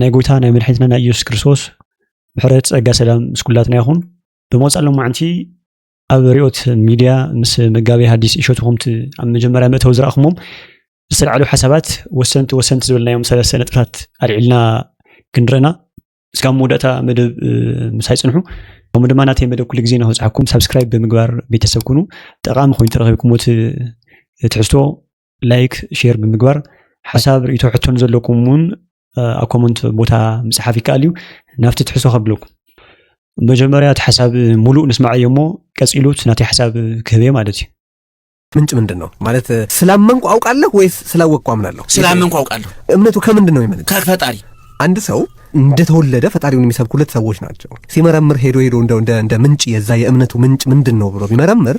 ናይ ጎይታ ናይ መድሕኒትና ናይ ኢየሱስ ክርስቶስ ምሕረት ጸጋ ሰላም ምስ ኩላትና ይኹን። ብመጻእ ሎማዕንቲ ኣብ ሪኦት ሚድያ ምስ መጋቢ ሃዲስ እሸቱ ከምቲ ኣብ መጀመርያ መእተዊ ዝረኣኹሞም ዝተልዓሉ ሓሳባት ወሰንቲ ወሰንቲ ዝበልናዮም ሰለስተ ነጥብታት ኣልዒልና ክንርአና እስካብ መወዳእታ መደብ ምሳይ ጽንሑ ከምኡ ድማ ናተይ መደብ ኩሉ ግዜ ንክብፅሓኩም ሳብስክራይብ ብምግባር ቤተሰብ ኩኑ ጠቃሚ ኮይኑ ተረኪብኩሞ ትሕዝቶ ላይክ ሼር ብምግባር ሓሳብ ርእቶ ሕቶ ንዘለኩም እውን ኣብ ኮመንት ቦታ ምፅሓፍ ይከኣል እዩ ናብቲ ትሕሶ ከብለኩም መጀመርያ እቲ ሓሳብ ሙሉእ ንስማዕ እዮ እሞ ቀፂሉ እቲ ናተይ ሓሳብ ክህብ እየ ማለት እዩ ምንጭ ምንድን ነው ማለት ስላመንኩ አውቃለሁ ወይስ ስላወቅኩ አምናለሁ? ስላመንኩ አውቃለሁ። እምነቱ ከምንድን ነው የመነጨው? ከፈጣሪ አንድ ሰው እንደተወለደ ፈጣሪውን የሚሰብኩለት ሰዎች ናቸው። ሲመረምር ሄዶ ሄዶ እንደ ምንጭ የዛ የእምነቱ ምንጭ ምንድን ነው ብሎ ቢመረምር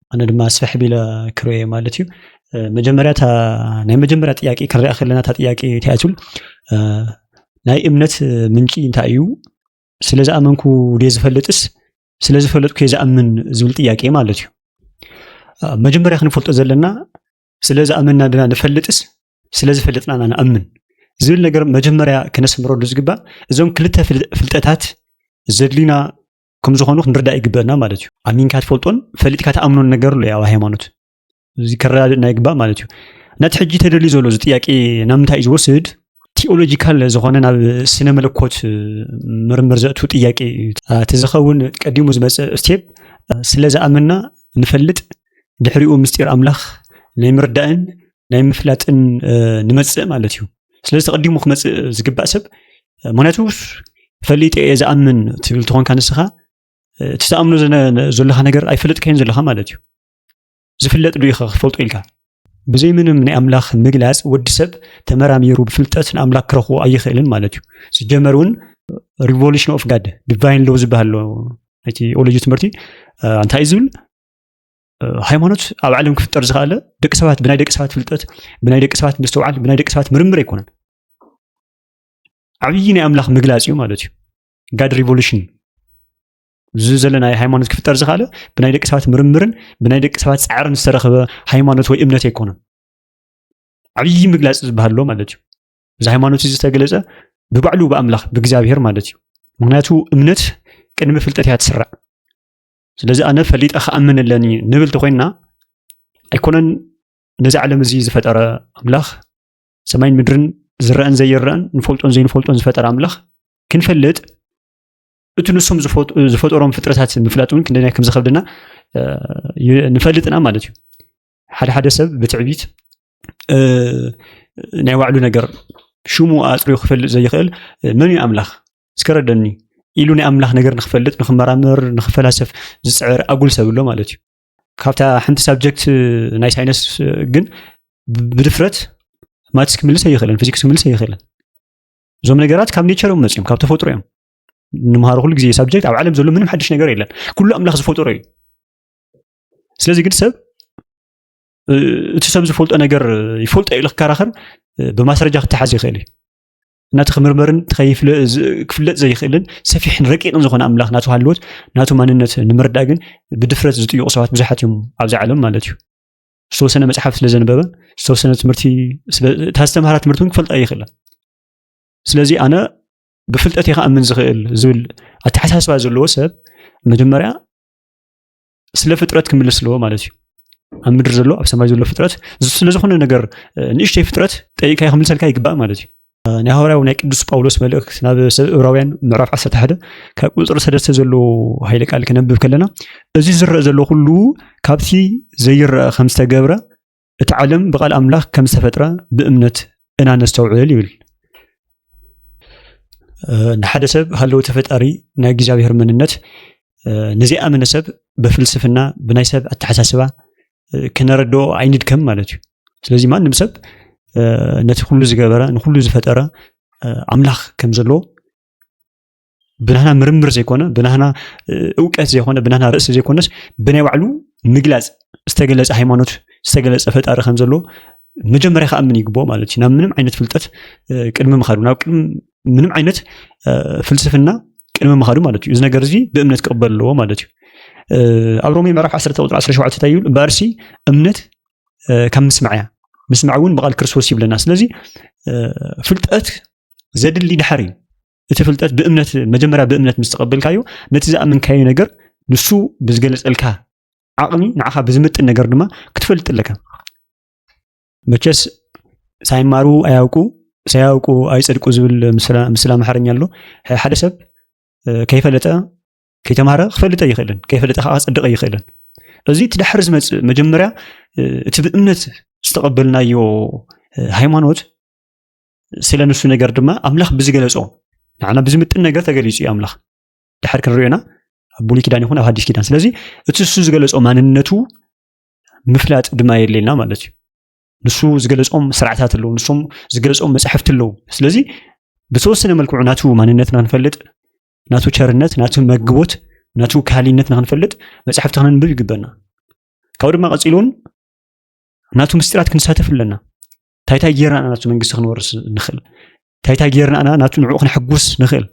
ኣነ ድማ ስፍሕ ቢለ ክርእዮ እየ ማለት እዩ መጀመርያ ናይ መጀመርያ ጥያቄ ክንሪኣ ከለና እታ ጥያቄ እንታይ ትብል ናይ እምነት ምንጪ እንታይ እዩ ስለ ዝኣመንኩ ደ ዝፈልጥስ ስለ ዝፈለጥኩ እየ ዝኣምን ዝብል ጥያቄ ማለት እዩ መጀመርያ ክንፈልጦ ዘለና ስለ ዝኣመንና ድና ንፈልጥስ ስለ ዝፈልጥና ኢና ንኣምን ዝብል ነገር መጀመርያ ክነስምረሉ ዝግባእ እዞም ክልተ ፍልጠታት ዘድልዩና ከም ዝኾኑ ክንርዳእ ይግበአና ማለት እዩ ኣሚንካ ትፈልጦን ፈሊጥካ ተኣምኖን ነገር ኣሎ ኣብ ሃይማኖት እዚ ከረዳድእ ናይ ግባእ ማለት እዩ ነቲ ሕጂ ተደልዩ ዘሎ እዚ ጥያቄ ናብ ምንታይ እዩ ዝወስድ ቲኦሎጂካል ዝኾነ ናብ ስነ መለኮት ምርምር ዘእቱ ጥያቄ እዩ እቲ ዝኸውን ቀዲሙ ዝመፀ ስቴፕ ስለ ዝኣመና ንፈልጥ ድሕሪኡ ምስጢር ኣምላኽ ናይ ምርዳእን ናይ ምፍላጥን ንመፅእ ማለት እዩ ስለዚ ተቐዲሙ ክመፅእ ዝግባእ ሰብ ምክንያቱ ፈሊጠ እየ ዝኣምን ትብል ትኾንካ ንስኻ እቲ ተኣምኖ ዘለካ ነገር ኣይፈለጥካዮን ዘለካ ማለት እዩ ዝፍለጥ ዶ ኢኻ ክትፈልጦ ኢልካ ብዘይ ምንም ናይ ኣምላኽ ምግላፅ ወዲ ሰብ ተመራሚሩ ብፍልጠት ንኣምላኽ ክረኽቦ ኣይኽእልን ማለት እዩ ዝጀመር እውን ሪቮሉሽን ኦፍ ጋድ ዲቫይን ሎው ዝበሃል ኣሎ እቲ ኦሎጂ ትምህርቲ እንታይ እዩ ዝብል ሃይማኖት ኣብ ዓለም ክፍጠር ዝኸኣለ ደቂ ሰባት ብናይ ደቂ ሰባት ፍልጠት ብናይ ደቂ ሰባት ምስትውዓል ብናይ ደቂ ሰባት ምርምር ኣይኮነን ዓብዪ ናይ ኣምላኽ ምግላፅ እዩ ማለት እዩ ጋድ ሪቮሉሽን እዚ ዘለና ሃይማኖት ክፍጠር ዝኸኣለ ብናይ ደቂ ሰባት ምርምርን ብናይ ደቂ ሰባት ፃዕርን ዝተረኸበ ሃይማኖት ወይ እምነት ኣይኮነን ዓብዪ ምግላፅ ዝበሃል ኣሎ ማለት እዩ እዚ ሃይማኖት እዚ ዝተገለፀ ብባዕሉ ብኣምላኽ ብእግዚኣብሄር ማለት እዩ ምክንያቱ እምነት ቅድሚ ፍልጠት እያ ትስራዕ ስለዚ ኣነ ፈሊጠ ክኣምን ኣለኒ ንብል ተኮይንና ኣይኮነን ነዚ ዓለም እዚ ዝፈጠረ ኣምላኽ ሰማይን ምድርን ዝረአን ዘይረአን ንፈልጦን ዘይንፈልጦን ዝፈጠረ ኣምላኽ ክንፈልጥ እቲ ንሶም ዝፈጠሮም ፍጥረታት ምፍላጥ እውን ክንደናይ ከም ዝከብደና ንፈልጥና ማለት እዩ ሓደ ሓደ ሰብ ብትዕቢት ናይ ባዕሉ ነገር ሽሙ ኣፅሪዩ ክፈልጥ ዘይኽእል መን እዩ ኣምላኽ እስከረደኒ ኢሉ ናይ ኣምላኽ ነገር ንክፈልጥ ንክመራመር ንክፈላሰፍ ዝፅዕር ኣጉል ሰብ ኣሎ ማለት እዩ ካብታ ሓንቲ ሳብጀክት ናይ ሳይነስ ግን ብድፍረት ማትስ ክምልስ ኣይኽእልን ፊዚክስ ክምልስ ኣይኽእልን እዞም ነገራት ካብ ኔቸር እዮም መፅኦም ካብ ተፈጥሮ እዮም ንምሃሮ ኩሉ ግዜ ሳብጀክት ኣብ ዓለም ዘሎ ምንም ሓድሽ ነገር የለን ኩሉ ኣምላኽ ዝፈጠሮ እዩ ስለዚ ግን ሰብ እቲ ሰብ ዝፈልጦ ነገር ይፈልጦ ኢሉ ክከራኸር ብማስረጃ ክተሓዝ ይኽእል እዩ እናቲ ክምርመርን ክፍለጥ ዘይኽእልን ሰፊሕን ረቂቕን ዝኾነ ኣምላኽ ናቱ ሃልዎት ናቱ ማንነት ንምርዳእ ግን ብድፍረት ዝጥይቑ ሰባት ብዙሓት እዮም ኣብዚ ዓለም ማለት እዩ ዝተወሰነ መፅሓፍ ስለ ዘንበበ ዝተወሰነ ትምህርቲ እታ ዝተምሃራ ትምህርቲ እውን ክፈልጣ ይኽእላ ስለዚ ኣነ ብፍልጠት ይኸኣምን ዝኽእል ዝብል ኣተሓሳስባ ዘለዎ ሰብ መጀመርያ ስለ ፍጥረት ክምልስ ኣለዎ ማለት እዩ ኣብ ምድሪ ዘሎ ኣብ ሰማይ ዘሎ ፍጥረት ስለ ዝኾነ ነገር ንእሽተይ ፍጥረት ጠይቅካ ክምልሰልካ ይግባእ ማለት እዩ ናይ ሃዋርያዊ ናይ ቅዱስ ጳውሎስ መልእክት ናብ ሰብ እብራውያን ምዕራፍ 11 ካብ ቁፅሪ ሰለስተ ዘለዎ ሃይለ ቃል ክነብብ ከለና እዚ ዝረአ ዘሎ ኩሉ ካብቲ ዘይረአ ከም ዝተገብረ እቲ ዓለም ብቃል ኣምላኽ ከም ዝተፈጥረ ብእምነት እና ነስተውዕል ይብል። ንሓደ ሰብ ሃለውቲ ተፈጣሪ ናይ እግዚኣብሔር መንነት ንዘይኣመነ ሰብ ብፍልስፍና ብናይ ሰብ ኣተሓሳስባ ክነረድኦ ኣይንድከም ማለት እዩ። ስለዚ ማንም ሰብ ነቲ ኩሉ ዝገበረ ንኩሉ ዝፈጠረ ኣምላኽ ከም ዘለዎ ብናህና ምርምር ዘይኮነ ብናህና እውቀት ዘይኮነ ብናህና ርእሲ ዘይኮነስ ብናይ ባዕሉ ምግላፅ ዝተገለፀ ሃይማኖት ዝተገለፀ ፈጣሪ ከም ዘሎ መጀመርያ ከኣምን ይግብኦ ማለት እዩ ናብ ምንም ዓይነት ፍልጠት ቅድሚ ምካዱ ናብ ቅድሚ ምንም ዓይነት ፍልስፍና ቅድሚ ምካዱ ማለት እዩ እዚ ነገር እዚ ብእምነት ክቕበል ኣለዎ ማለት እዩ ኣብ ሮሜ ምዕራፍ 1 ቁጥሪ 17 እንታይ ይብል እምበኣርሲ እምነት ካብ ምስማዕ እያ ምስማዕ እውን ብቓል ክርስቶስ ይብለና ስለዚ ፍልጠት ዘድሊ ድሓር እዩ እቲ ፍልጠት ብእምነት መጀመርያ ብእምነት ምስ ተቐበልካዮ ነቲ ዝኣመንካዮ ነገር ንሱ ብዝገለፀልካ ዓቕሚ ንዓኻ ብዝምጥን ነገር ድማ ክትፈልጥ ኣለካ መቸስ ሳይማሩ ኣያውቁ ሳያውቁ ኣይፀድቁ ዝብል ምስላ ኣምሓርኛ ኣሎ ሓደ ሰብ ከይፈለጠ ከይተማሃረ ክፈልጠ ይኽእልን ከይፈለጠ ከዓ ክፀድቀ ይኽእልን እዚ እቲ ዳሕሪ ዝመፅእ መጀመርያ እቲ ብእምነት ዝተቐበልናዮ ሃይማኖት ስለ ንሱ ነገር ድማ ኣምላኽ ብዝገለጾ ንዓና ብዝምጥን ነገር ተገሊጹ እዩ ኣምላኽ ድሓር ክንሪኦና ኣብ ብሉይ ኪዳን ይኹን ኣብ ሃዲስ ኪዳን ስለዚ እቲ ንሱ ዝገለጾ ማንነቱ ምፍላጥ ድማ የድልየና ማለት እዩ ንሱ ዝገለጾም ስርዓታት ኣለዉ ንሶም ዝገለጾም መፅሕፍቲ ኣለዉ ስለዚ ብተወሰነ መልክዑ ናቱ ማንነት ንክንፈልጥ ናቱ ቸርነት ናቱ መግቦት ናቱ ካህሊነት ንክንፈልጥ መፅሕፍቲ ክንንብብ ይግበና ካብኡ ድማ ቀፂሉ እውን ናቱ ምስጢራት ክንሳተፍ ኣለና ታይታይ ጌርና ናቱ መንግስቲ ክንወርስ ንኽእል ታይታይ ጌርና ኢና ናቱ ንዕኡ ክንሕጉስ ንኽእል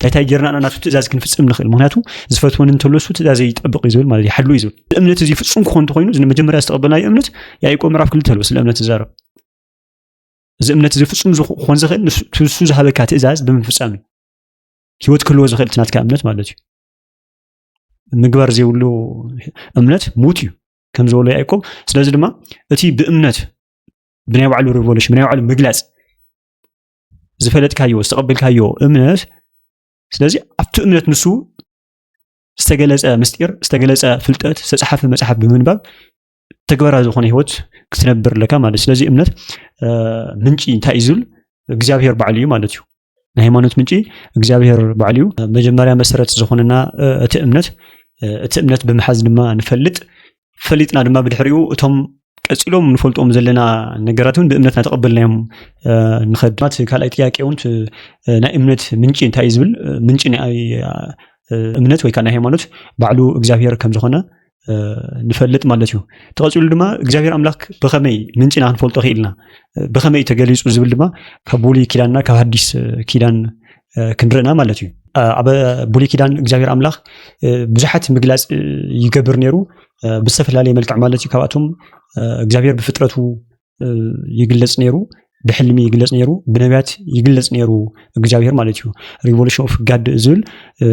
ታይታይ ጌርና ኢና ናቱ ትእዛዝ ክንፍፅም ንኽእል ምክንያቱ ዝፈትወን እንተለሱ ትእዛዘ ይጠብቕ እዩ ዝብል ማለት እዩ ሓሉ እዩ ዝብል እምነት እዚ ፍፁም ክኾን እንተኮይኑ እዚ መጀመርያ ዝተቐበልናዮ እምነት ያዕቆብ ምዕራፍ ክልተ ኣለዎ ስለ እምነት ዝዛረብ እዚ እምነት እዚ ፍፁም ክኾን ዝኽእል ንሱ ዝሃበካ ትእዛዝ ብምፍፃም እዩ ሂወት ክህልዎ ዝኽእል እቲ ናትካ እምነት ማለት እዩ ምግባር ዘይብሉ እምነት ሙት እዩ ከም ዝበሎ ያዕቆብ ስለዚ ድማ እቲ ብእምነት ብናይ ባዕሉ ሪቮሉሽን ብናይ ባዕሉ ምግላፅ ዝፈለጥካዮ ዝተቐበልካዮ እምነት ስለዚ ኣብቲ እምነት ንሱ ዝተገለፀ ምስጢር ዝተገለፀ ፍልጠት ዝተፅሓፈ መፅሓፍ ብምንባብ ተግባራዊ ዝኾነ ሂወት ክትነብር ኣለካ ማለት ስለዚ እምነት ምንጪ እንታይ እዩ ዝብል እግዚኣብሄር ባዕሉ እዩ ማለት እዩ ናይ ሃይማኖት ምንጪ እግዚኣብሔር ባዕሉ እዩ። መጀመርያ መሰረት ዝኾነና እቲ እምነት እቲ እምነት ብምሓዝ ድማ ንፈልጥ ፈሊጥና ድማ ብድሕሪኡ እቶም ቀፂሎም ንፈልጦም ዘለና ነገራት እውን ብእምነት እናተቐበልናዮም ንኸድ ድማ እቲ ካልኣይ ጥያቄ እውን ናይ እምነት ምንጪ እንታይ እዩ ዝብል ምንጪ ናይ እምነት ወይ ከዓ ናይ ሃይማኖት ባዕሉ እግዚኣብሔር ከም ዝኾነ ንፈልጥ ማለት እዩ ተቐፂሉ ድማ እግዚኣብሔር ኣምላክ ብኸመይ ምንጪ ኢና ክንፈልጦ ክኢልና ብኸመይ እዩ ተገሊፁ ዝብል ድማ ካብ ብሉይ ኪዳንና ካብ ሃዲስ ኪዳን ክንርእና ማለት እዩ ኣብ ብሉይ ኪዳን እግዚኣብሔር ኣምላክ ብዙሓት ምግላፅ ይገብር ነይሩ ብዝተፈላለየ መልክዕ ማለት እዩ ካብኣቶም እግዚኣብሔር ብፍጥረቱ ይግለጽ ነይሩ ብሕልሚ ይግለጽ ነይሩ ብነቢያት ይግለጽ ነይሩ እግዚኣብሄር ማለት እዩ ሪቮሉሽን ኦፍ ጋድ ዝብል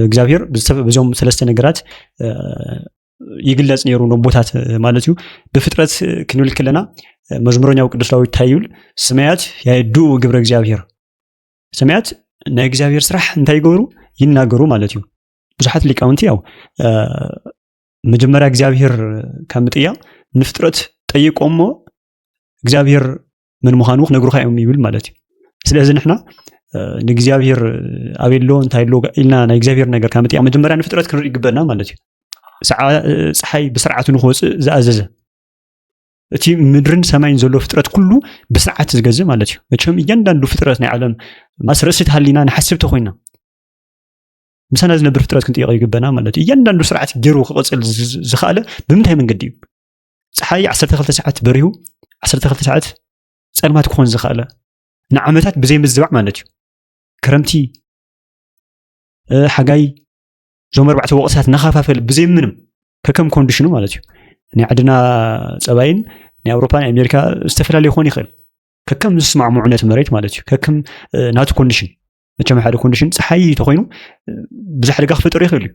እግዚኣብሄር ብዞም ሰለስተ ነገራት ይግለጽ ነይሩ ነቦታት ማለት እዩ ብፍጥረት ክንብል ከለና መዝሙረኛው ቅዱስ ዳዊት እንታይ ይብል ስማያት ያየድኡ ግብረ እግዚኣብሄር ሰማያት ናይ እግዚኣብሄር ስራሕ እንታይ ይገብሩ ይናገሩ ማለት እዩ ብዙሓት ሊቃውንቲ ያው መጀመርያ እግዚኣብሄር ካብ ምጥያቕ ንፍጥረት ጠይቆ እሞ እግዚኣብሄር ምን ምዃኑ ክነግሩካ እዮም ይብል ማለት እዩ ስለዚ ንሕና ንእግዚኣብሄር ኣበይ ኣሎ እንታይ ኣሎ ኢልና ናይ እግዚኣብሄር ነገር ካብ ምጥያቕ መጀመርያ ንፍጥረት ክንርኢ ይግበና ማለት እዩ ፀሓይ ብስርዓቱ ንክወፅእ ዝኣዘዘ እቲ ምድርን ሰማይን ዘሎ ፍጥረት ኩሉ ብስርዓት ዝገዝእ ማለት እዩ መቸም እያንዳንዱ ፍጥረት ናይ ዓለም ማስ ርእሲ ተሃሊና ንሓስብ ተኮይና ምሳና ዝነብር ፍጥረት ክንጥይቀ ይግበና ማለት እዩ እያንዳንዱ ስርዓት ገይሩ ክቐፅል ዝኽኣለ ብምንታይ መንገዲ እዩ ፀሓይ 12 ሰዓት በሪሁ 12 ሰዓት ፀልማት ክኾን ዝኽኣለ ንዓመታት ብዘይ ምዝባዕ ማለት እዩ ክረምቲ ሓጋይ እዞም ኣርባዕተ ወቕትታት እናኸፋፈል ብዘይ ምንም ከከም ኮንዲሽኑ ማለት እዩ ናይ ዓድና ፀባይን ናይ ኣውሮፓ ናይ ኣሜሪካ ዝተፈላለዩ ክኾን ይኽእል ከከም ዝስማዕምዑ ነቲ መሬት ማለት እዩ ከከም ናቱ ኮንዲሽን መቸም ሓደ ኮንዲሽን ፀሓይ ተኮይኑ ብዙሕ ሓደጋ ክፈጠሩ ይኽእል እዩ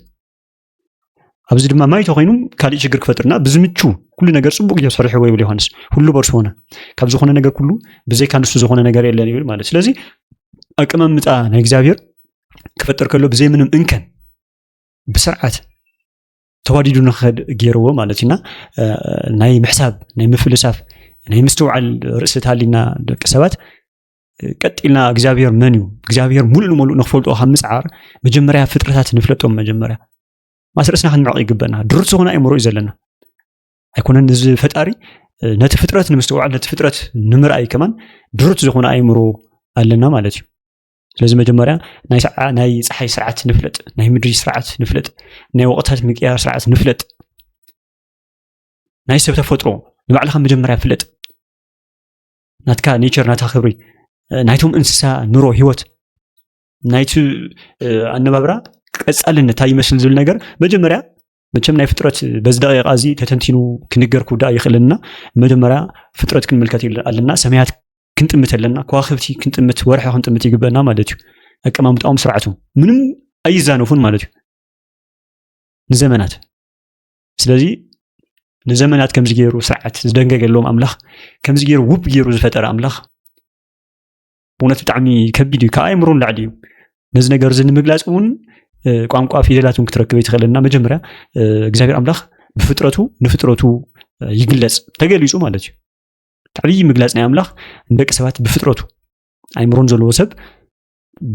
ኣብዚ ድማ ማይ ተኮይኑ ካሊእ ሽግር ክፈጥርና ብዝምቹ ኩሉ ነገር ፅቡቅ እዩ ሰሪሕዎ ይብል ዮሃንስ ሁሉ በርሱ ሆነ ካብ ዝኾነ ነገር ኩሉ ብዘይካ ንሱ ዝኾነ ነገር የለን ይብል ማለት ስለዚ ኣቀማምጣ ናይ እግዚኣብሔር ክፈጥር ከሎ ብዘይ ምንም እንከን ብስርዓት ተዋዲዱ ንክኸድ ገይርዎ ማለት እዩና ናይ ምሕሳብ ናይ ምፍልሳፍ ናይ ምስትውዓል ርእሲ ተሃሊና ደቂ ሰባት ቀጢልና እግዚኣብሔር መን እዩ እግዚኣብሔር ሙሉእ ንሙሉእ ንክፈልጦ ካብ ምፅዓር መጀመርያ ፍጥረታት ንፍለጦም መጀመርያ ማስርእስና ክንምዕቕ ይግበና ድሩት ዝኾነ ኣይምሮ እዩ ዘለና ኣይኮነን እዚ ፈጣሪ ነቲ ፍጥረት ንምስተውዓል ነቲ ፍጥረት ንምርኣይ ከማን ድሩት ዝኾነ ኣይምሮ ኣለና ማለት እዩ ስለዚ መጀመርያ ናይ ፀሓይ ስርዓት ንፍለጥ ናይ ምድሪ ስርዓት ንፍለጥ ናይ ወቕታት ምቅያር ስርዓት ንፍለጥ ናይ ሰብ ተፈጥሮ ንባዕልካ መጀመርያ ፍለጥ ናትካ ኔቸር ናታ ክብሪ ናይቶም እንስሳ ኑሮ ሂወት ናይቲ ኣነባብራ ቀፃልነት እንታይ ይመስል ዝብል ነገር መጀመርያ መቸም ናይ ፍጥረት በዚ ደቂቃ እዚ ተተንቲኑ ክንገር ክውዳእ ይኽእልንና መጀመርያ ፍጥረት ክንምልከት ኣለና ሰማያት ክንጥምት ኣለና ከዋክብቲ ክንጥምት ወርሒ ክንጥምት ይግበና ማለት እዩ ኣቀማምጣኦም ስርዓቱ ምንም ኣይዛነፉን ማለት እዩ ንዘመናት ስለዚ ንዘመናት ከምዚ ገይሩ ስርዓት ዝደንገገሎም ኣምላኽ ከምዚ ገይሩ ውብ ገይሩ ዝፈጠረ ኣምላኽ ብእውነት ብጣዕሚ ከቢድ እዩ ካብ ኣእምሮ ንላዕሊ እዩ ነዚ ነገር እዚ ንምግላፅ እውን ቋንቋ ፊደላት እውን ክትረክበ ይትኽእለና መጀመርያ እግዚኣብሔር ኣምላኽ ብፍጥረቱ ንፍጥረቱ ይግለፅ ተገሊፁ ማለት እዩ ዓብዪ ምግላፅ ናይ ኣምላኽ ንደቂ ሰባት ብፍጥረቱ ኣይምሮን ዘለዎ ሰብ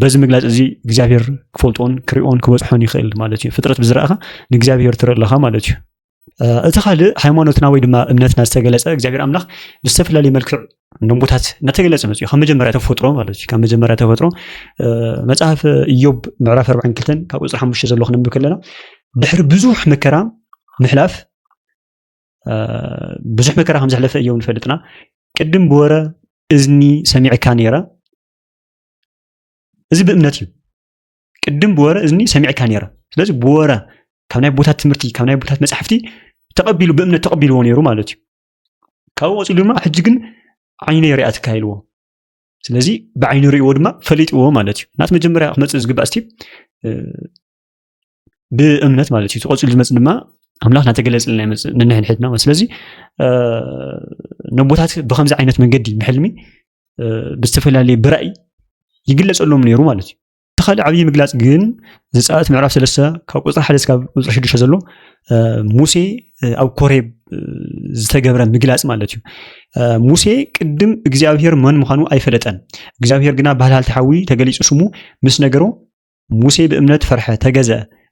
በዚ ምግላፅ እዚ እግዚኣብሔር ክፈልጦን ክሪኦን ክበፅሖን ይኽእል ማለት እዩ ፍጥረት ብዝረእኻ ንእግዚኣብሔር ትርኢ ኣለኻ ማለት እዩ እቲ ካልእ ሃይማኖትና ወይ ድማ እምነትና ዝተገለፀ እግዚኣብሔር ኣምላኽ ብዝተፈላለየ መልክዕ ንቦታት እናተገለፀ መፅኡ ካብ መጀመርያ ተፈጥሮ ማለት እዩ ካብ መጀመርያ ተፈጥሮ መፅሓፍ እዮብ ምዕራፍ ኣርባዕን ክልተን ካብ ቁፅሪ ሓሙሽተ ዘሎ ክንብብ ከለና ድሕሪ ብዙሕ መከራ ምሕላፍ ብዙሕ መከራ ከም ዘሕለፈ እዮም ንፈልጥና ቅድም ብወረ እዝኒ ሰሚዕካ ነይረ እዚ ብእምነት እዩ ቅድም ብወረ እዝኒ ሰሚዕካ ነይረ ስለዚ ብወረ ካብ ናይ ቦታት ትምህርቲ ካብ ናይ ቦታት መፅሕፍቲ ተቐቢሉ ብእምነት ተቐቢልዎ ነይሩ ማለት እዩ ካብኡ ወፂሉ ድማ ሕጂ ግን ዓይነ ሪኣ ትካይልዎ ስለዚ ብዓይኒ ርእዎ ድማ ፈሊጥዎ ማለት እዩ ናት መጀመርያ ክመፅእ ዝግባእ ስቲፕ ብእምነት ማለት እዩ ተቆፂሉ ዝመፅ ድማ ኣምላኽ ናተገለፅልና ይመፅእ ንንሕድሕድና ስለዚ ነቦታት ብከምዚ ዓይነት መንገዲ ብሕልሚ ብዝተፈላለየ ብራእይ ይግለፀሎም ነይሩ ማለት እዩ እቲ ካልእ ዓብዪ ምግላፅ ግን ዘፃት ምዕራፍ ሰለስተ ካብ ቁፅሪ ሓደ ስካብ ቁፅሪ ሽዱሽተ ዘሎ ሙሴ ኣብ ኮሬብ ዝተገብረ ምግላፅ ማለት እዩ ሙሴ ቅድም እግዚኣብሄር መን ምዃኑ ኣይፈለጠን እግዚኣብሄር ግና ባህልሃልቲ ሓዊ ተገሊፁ ስሙ ምስ ነገሮ ሙሴ ብእምነት ፈርሐ፣ ተገዘ፣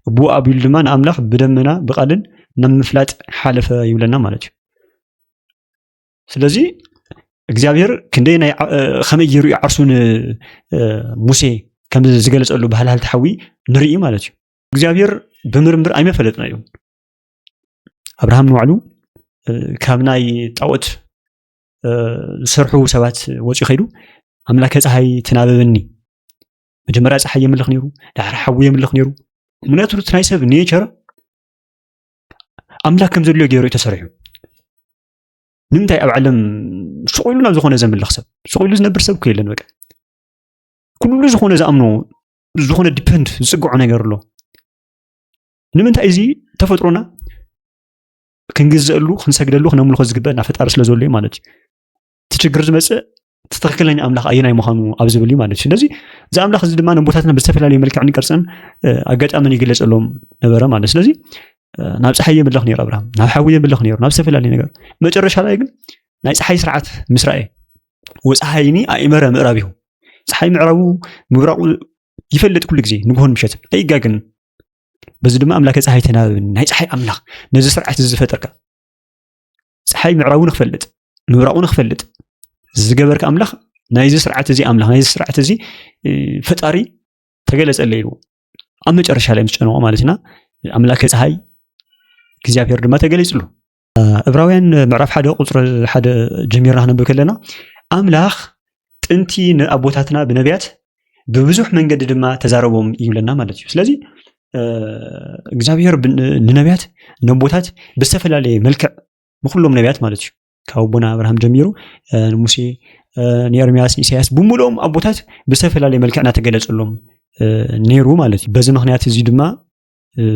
እብኡ ኣቢሉ ድማ ንኣምላኽ ብደመና ብቃልን ናብ ምፍላጥ ሓለፈ ይብለና ማለት እዩ። ስለዚ እግዚኣብሔር ክንደይ ናይ ከመይ ገይሩ እዩ ዓርሱ ንሙሴ ከም ዝገለፀሉ ባህል ሃልቲ ሓዊ ንርኢ ማለት እዩ እግዚኣብሔር ብምርምር ኣይመፈለጥና እዩ ኣብርሃም ንባዕሉ ካብ ናይ ጣዖት ዝሰርሑ ሰባት ወፂኡ ከይዱ ኣምላከ ፀሃይ ትናበበኒ መጀመርያ ፀሓይ የምልኽ ነይሩ፣ ድሓር ሓዊ የምልኽ ነይሩ። ምክንያቱ እቲ ናይ ሰብ ኔቸር ኣምላክ ከም ዘድልዮ ገይሩ እዩ ተሰሪሑ። ንምንታይ ኣብ ዓለም ስቑኢሉ ናብ ዝኾነ ዘምልኽ ሰብ ስቑኢሉ ዝነብር ሰብ እኮ የለን። በቃ ኩሉ ዝኾነ ዝኣምኖ ዝኾነ ዲፐንድ ዝፅግዖ ነገር ኣሎ። ንምንታይ እዚ ተፈጥሮና ክንግዘአሉ ክንሰግደሉ ክነምልኾ ዝግበአና ፈጣሪ ስለ ዘሎ ማለት እዩ። እቲ ችግር ዝመፅእ እቲ ትክክለኛ ኣምላኽ ኣየናይ ምዃኑ ኣብ ዝብል እዩ ማለት እዩ ስለዚ እዚ ኣምላኽ እዚ ድማ ንቦታትና ብዝተፈላለዩ መልክዕን ቅርፅን ኣጋጣምን ይግለፀሎም ነበረ ማለት ስለዚ ናብ ፀሓይ የምልኽ ነይሩ ኣብርሃም ናብ ሓዊ የምልኽ ነይሩ ናብ ዝተፈላለዩ ነገር መጨረሻ ላይ ግን ናይ ፀሓይ ስርዓት ምስ ረኣየ ወፀሓይኒ ኣእመረ ምዕራብ ይኹ ፀሓይ ምዕራቡ ምብራቑ ይፈልጥ ኩሉ ግዜ ንግሆን ምሸትን ኣይጋግን በዚ ድማ ኣምላከ ፀሓይ ተናበብኒ ናይ ፀሓይ ኣምላኽ ነዚ ስርዓት እዚ ዝፈጠርካ ፀሓይ ምዕራቡ ንክፈልጥ ምብራቑ ንክፈልጥ ዝገበርካ ኣምላኽ ናይዚ ስርዓት እዚ ኣምላኽ ናይዚ ስርዓት እዚ ፈጣሪ ተገለፀለ ይብዎ ኣብ መጨረሻ ላይ ምስ ጨነቆ ማለትና ኣምላከ ፀሓይ እግዚኣብሔር ድማ ተገሊፅሉ እብራውያን ምዕራፍ ሓደ ቁፅሪ ሓደ ጀሚርና ክነብብ ከለና ኣምላኽ ጥንቲ ንኣቦታትና ብነቢያት ብብዙሕ መንገዲ ድማ ተዛረቦም ይብለና ማለት እዩ ስለዚ እግዚኣብሔር ንነቢያት ነቦታት ብዝተፈላለየ መልክዕ ንኩሎም ነቢያት ማለት እዩ ካብ ኣቦና ኣብርሃም ጀሚሩ ንሙሴ ንኤርሚያስ ንኢሳያስ ብምልኦም ኣቦታት ብዝተፈላለየ መልክዕ እናተገለፀሎም ነይሩ ማለት እዩ በዚ ምክንያት እዚ ድማ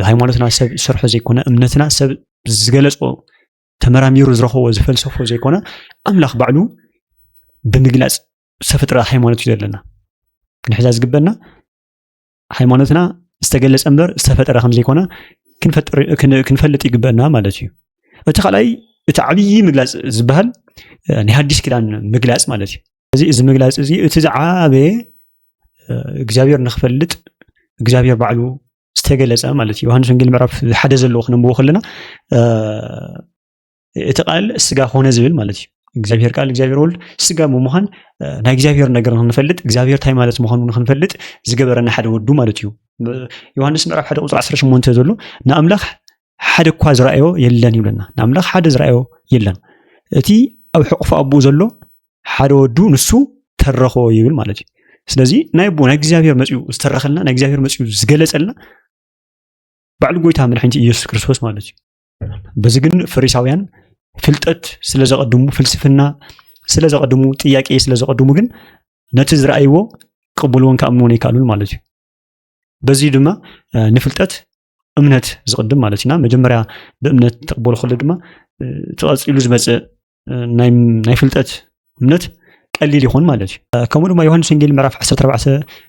ሃይማኖትና ሰብ ዝሰርሖ ዘይኮነ እምነትና ሰብ ዝገለፆ ተመራሚሩ ዝረኸቦ ዝፈልሰፎ ዘይኮነ ኣምላኽ ባዕሉ ብምግላፅ ዝተፈጥረ ሃይማኖት እዩ ዘለና ክንሕዛ ዝግበና ሃይማኖትና ዝተገለፀ እምበር ዝተፈጠረ ከም ዘይኮነ ክንፈልጥ ይግበና ማለት እዩ እቲ ካልኣይ እቲ ዓብዪ ምግላፅ ዝበሃል ናይ ሓዲስ ኪዳን ምግላፅ ማለት እዩ እዚ እዚ ምግላፅ እዚ እቲ ዝዓበየ እግዚኣብሔር ንክፈልጥ እግዚኣብሔር ባዕሉ ዝተገለፀ ማለት እዩ ዮሃንስ ወንጌል ምዕራፍ ሓደ ዘለዎ ክነንብቦ ከለና እቲ ቃል ስጋ ኮነ ዝብል ማለት እዩ እግዚኣብሔር ቃል እግዚኣብሔር ወልድ ስጋ ብምዃን ናይ እግዚኣብሔር ነገር ንክንፈልጥ እግዚኣብሔር ታይ ማለት ምዃኑ ንክንፈልጥ ዝገበረና ሓደ ወዱ ማለት እዩ ዮሃንስ ምዕራፍ ሓደ ቁፅሪ 18 ዘሎ ንኣምላኽ ሓደ እኳ ዝረኣዮ የለን ይብለና ንኣምላኽ ሓደ ዝረኣዮ የለን እቲ ኣብ ሕቁፎ ኣቦኡ ዘሎ ሓደ ወዱ ንሱ ተረኾ ይብል ማለት እዩ ስለዚ ናይ ኣቦ ናይ እግዚኣብሔር መፅኡ ዝተረኸልና ናይ እግዚኣብሔር መፅኡ ዝገለፀልና ባዕሉ ጎይታ መድሓኒት ኢየሱስ ክርስቶስ ማለት እዩ በዚ ግን ፈሪሳውያን ፍልጠት ስለ ዘቐድሙ ፍልስፍና ስለ ዘቐድሙ ጥያቄ ስለ ዘቐድሙ ግን ነቲ ዝረኣይዎ ክቕብልዎን ክኣምንዎን ይከኣሉን ማለት እዩ በዚ ድማ ንፍልጠት እምነት ዝቕድም ማለት እዩና መጀመርያ ብእምነት ተቕበሉ ከሎ ድማ ተቐፂሉ ዝመፅእ ናይ ፍልጠት እምነት ቀሊል ይኹን ማለት እዩ ከምኡ ድማ ዮሃንስ ወንጌል ምዕራፍ 14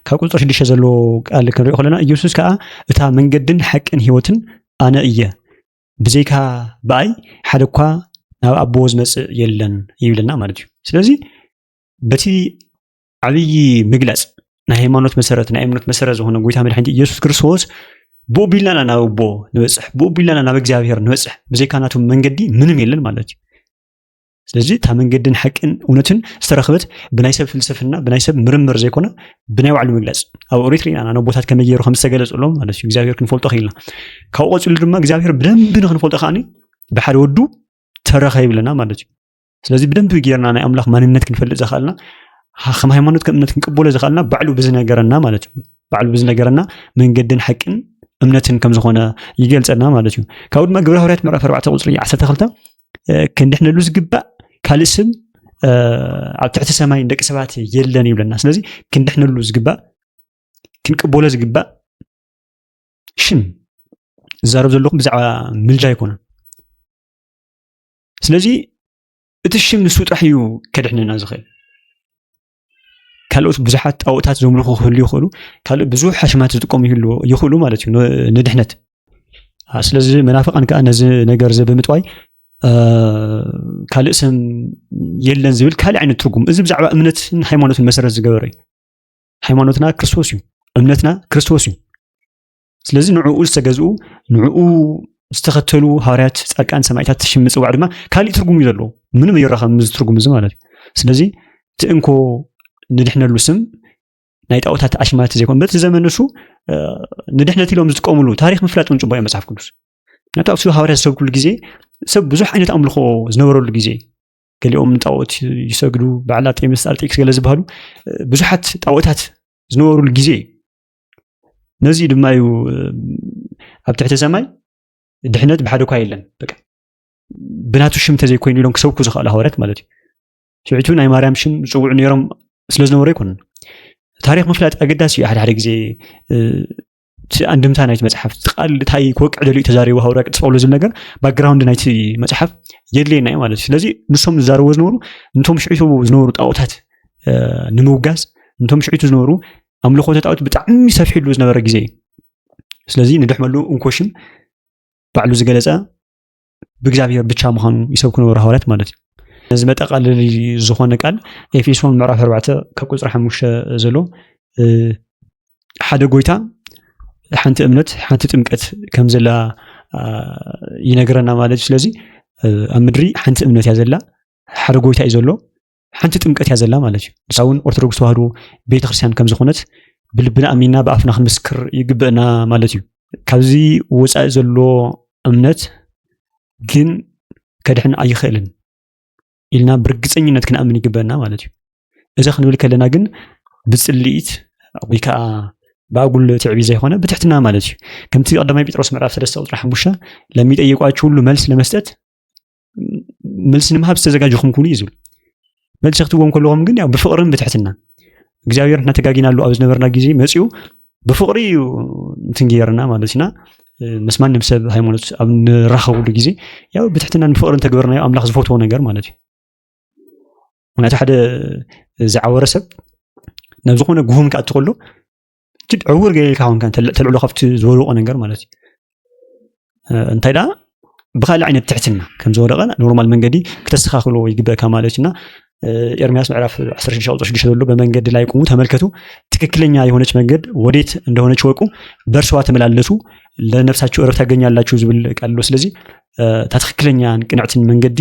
ካብ ቁፅሪ 6 ዘለዎ ቃል ክንሪኦ ከለና ኢየሱስ ከዓ እታ መንገድን ሓቅን ህይወትን ኣነ እየ ብዘይካ ብኣይ ሓደ እኳ ናብ ኣቦ ዝመፅእ የለን ይብለና ማለት እዩ ስለዚ በቲ ዓብዪ ምግለፅ ናይ ሃይማኖት መሰረት ናይ እምነት መሰረት ዝኾነ ጎይታ መድሓኒት ኢየሱስ ክርስቶስ ብኡ ቢልናና ናብ ኣቦ ንበፅሕ ብኡ ቢልናና ናብ እግዚኣብሔር ንበፅሕ ብዘይካ ናቱ መንገዲ ምንም የለን ማለት እዩ ስለዚ እታ መንገድን ሓቅን እውነትን ዝተረኽበት ብናይ ሰብ ፍልስፍና ብናይ ሰብ ምርምር ዘይኮነ ብናይ ባዕሉ ምግለፅ ኣብ ኦሪት ርኢና ናብ ቦታት ከመይ ገይሩ ከም ዝተገለፀሎም ማለት እዩ እግዚኣብሔር ክንፈልጦ ክኢልና ካብኡ ቀፅሉ ድማ እግዚኣብሔር ብደንቢ ንክንፈልጦ ከዓኒ ብሓደ ወዱ ተረኸ ይብለና ማለት እዩ ስለዚ ብደንቢ ጌርና ናይ ኣምላኽ ማንነት ክንፈልጥ ዘኽኣልና ከም ሃይማኖት ከም እምነት ክንቅበሎ ዘኽኣልና ባዕሉ ብዝነገረና ማለት እዩ ባዕሉ ብዝነገረና መንገድን ሓቅን እምነትን ከም ዝኾነ ይገልፀና ማለት እዩ ካብኡ ድማ ግብረ ሃዋርያት ምዕራፍ 4 ቁፅሪ 12 ክንድሕነሉ ዝግባእ ካልእ ስም ኣብ ትሕቲ ሰማይ ደቂ ሰባት የለን ይብለና ስለዚ ክንድሕነሉ ዝግባእ ክንቅበሎ ዝግባእ ሽም ዝዛረብ ዘለኹም ብዛዕባ ምልጃ ኣይኮነን ስለዚ እቲ ሽም ንሱ ጥራሕ እዩ ከድሕነና ዝኽእል ካልኦት ብዙሓት ጣኦታት ዘምልኹ ክህሉ ይኽእሉ ካልእ ብዙሕ ሓሽማት ዝጥቀሙ ይኽእሉ ማለት እዩ ንድሕነት ስለዚ መናፍቃን ከዓ ነዚ ነገር እዚ ብምጥዋይ ካልእ ስም የለን ዝብል ካልእ ዓይነት ትርጉም እዚ ብዛዕባ እምነትን ሃይማኖትን መሰረት ዝገበረ እዩ ሃይማኖትና ክርስቶስ እዩ እምነትና ክርስቶስ እዩ ስለዚ ንዕኡ ዝተገዝኡ ንዕኡ ዝተኸተሉ ሃዋርያት ፃድቃን ሰማዒታት ሽም ምፅዋዕ ድማ ካሊእ ትርጉም እዩ ዘለዎ ምንም ኣይራኸብም እዚ ትርጉም እዚ ማለት እዩ ስለዚ እቲ እንኮ ንድሕነሉ ስም ናይ ጣዖታት ኣሽማት ዘይኮን በቲ ዘመን ንሱ ንድሕነት ኢሎም ዝጥቀምሉ ታሪክ ምፍላጥ እውን ፅቡቅ እዩ መፅሓፍ ቅዱስ ምክንያቱ ኣብ ስብ ሃዋርያ ዝሰብክሉ ግዜ ሰብ ብዙሕ ዓይነት ኣምልኾ ዝነበረሉ ግዜ ገሊኦም ንጣዖት ይሰግዱ በዓል ኣርጤምስ ኣርጤክስ ገለ ዝበሃሉ ብዙሓት ጣዖታት ዝነበሩሉ ግዜ እዩ ነዚ ድማ እዩ ኣብ ትሕቲ ሰማይ ድሕነት ብሓደ እኳ የለን በቃ ብናቱ ሽም እንተዘይኮይኑ ኢሎም ክሰብኩ ዝኽኣሉ ሃዋርያት ማለት እዩ ሽዑቱ ናይ ማርያም ሽም ዝፅውዑ ነይሮም ስለ ዝነበሩ ኣይኮኑን ታሪክ ምፍላጥ ኣገዳሲ እዩ ሓደ ሓደ ግዜ እቲ ኣንድምታ ናይቲ መፅሓፍ ቃል እንታይ ክወቅዕ ደልዩ ተዛሪቡ ሃዋርያ ቅዱስ ጳውሎስ ዝብል ነገር ባክግራውንድ ናይቲ መፅሓፍ የድልየና እዩ ማለት እዩ ስለዚ ንሶም ዝዛረብዎ ዝነበሩ ንቶም ሽዑቱ ዝነበሩ ጣዖታት ንምውጋዝ ንቶም ሽዑቱ ዝነበሩ ኣምልኾተ ጣዖት ብጣዕሚ ሰፊሕሉ ዝነበረ ግዜ እዩ ስለዚ ንድሕመሉ እንኮሽም ባዕሉ ዝገለፀ ብእግዚኣብሔር ብቻ ምዃኑ ይሰብኩ ነበሩ ሃዋርያት ማለት እዩ ነዚ መጠቃለሊ ዝኾነ ቃል ኤፌሶን ምዕራፍ ኣርባዕተ ካብ ቁፅሪ ሓሙሽተ ዘሎ ሓደ ጎይታ ሓንቲ እምነት ሓንቲ ጥምቀት ከም ዘላ ይነግረና ማለት እዩ ስለዚ ኣብ ምድሪ ሓንቲ እምነት እያ ዘላ ሓደ ጎይታ እዩ ዘሎ ሓንቲ ጥምቀት እያ ዘላ ማለት እዩ ንሳ እውን ኦርቶዶክስ ተዋህዶ ቤተክርስትያን ከም ዝኾነት ብልብና ኣሚና ብኣፍና ክንምስክር ይግበእና ማለት እዩ ካብዚ ወፃኢ ዘሎ እምነት ግን ከድሕን ኣይኽእልን ኢልና ብርግፀኝነት ክንኣምን ይግበና ማለት እዩ እዚ ክንብል ከለና ግን ብፅልኢት ወይ ከዓ ብኣጉል ትዕቢት ዘይኮነ ብትሕትና ማለት እዩ ከምቲ ቀዳማይ ጴጥሮስ ምዕራፍ ሰለስተ ቁፅሪ ሓሙሽተ ለሚጠየቋችሁ ሁሉ መልስ ለመስጠት መልሲ ንምሃብ ዝተዘጋጀኹም ኩኑ እዩ ዝብል መልሲ ክትዎም ከለኹም ግን ያው ብፍቕርን ብትሕትና እግዚኣብሔር ንሕና ተጋጊናሉ ኣብ ዝነበርና ግዜ መፅኡ ብፍቕሪ እዩ እንትን ገይርና ማለት ኢና ምስ ማንም ሰብ ሃይማኖት ኣብ ንራኸብሉ ግዜ ያው ብትሕትናን ብፍቕርን ተግበርናዮ ኣምላኽ ዝፈትዎ ነገር ማለት እዩ ምክንያቱ ሓደ ዝዓወረ ሰብ ናብ ዝኾነ ጉሁም ክኣቲ ከሎ ዕውር ገይርካ ኮንካ ተልዕሎ ካብቲ ዝወደቆ ነገር ማለት እዩ እንታይ ደኣ ብካልእ ዓይነት ትሕትና ከም ዝወደቐ ኖርማል መንገዲ ክተስተኻኽልዎ ይግበእካ ማለት እዩና ኤርሚያስ ምዕራፍ 16 ቁጥር 6 ዘሎ በመንገድ ላይ ቁሙ ተመልከቱ፣ ትክክለኛ የሆነች መንገድ ወዴት እንደሆነች ወቁ፣ በእርሷ ተመላለሱ፣ ለነፍሳችሁ እረፍት ታገኛላችሁ ዝብል ቃል ኣሎ። ስለዚ እታ ትክክለኛን ቅንዕትን መንገዲ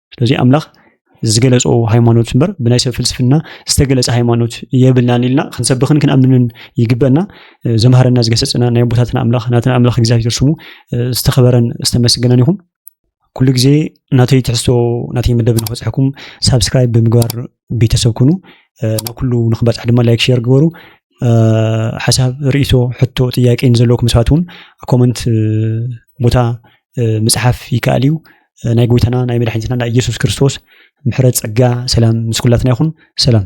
ስለዚ ኣምላኽ ዝገለጾ ሃይማኖት እምበር ብናይ ሰብ ፍልስፍና ዝተገለጸ ሃይማኖት የብልናን ኢልና ክንሰብኽን ክንኣምንን ይግበአና። ዘምሃረና ዝገሰጽና ናይ ኣቦታትና ኣምላኽ ናትና ኣምላኽ እግዚኣብሔር ስሙ ዝተኸበረን ዝተመስገነን ይኹን። ኩሉ ግዜ ናተይ ትሕዝቶ ናተይ መደብ ንክበጽሐኩም ሳብስክራይብ ብምግባር ቤተሰብ ኩኑ ናብ ኩሉ ንክበፅሕ ድማ ላይክ ሼር ግበሩ ሓሳብ ርእቶ ሕቶ ጥያቄ ንዘለኩም ሰባት እውን ኮመንት ቦታ ምፅሓፍ ይከኣል እዩ ናይ ጎይታና ናይ መድሓኒትና ናይ ኢየሱስ ክርስቶስ ምሕረት ፀጋ ሰላም ምስ ኩላትና ይኹን ሰላም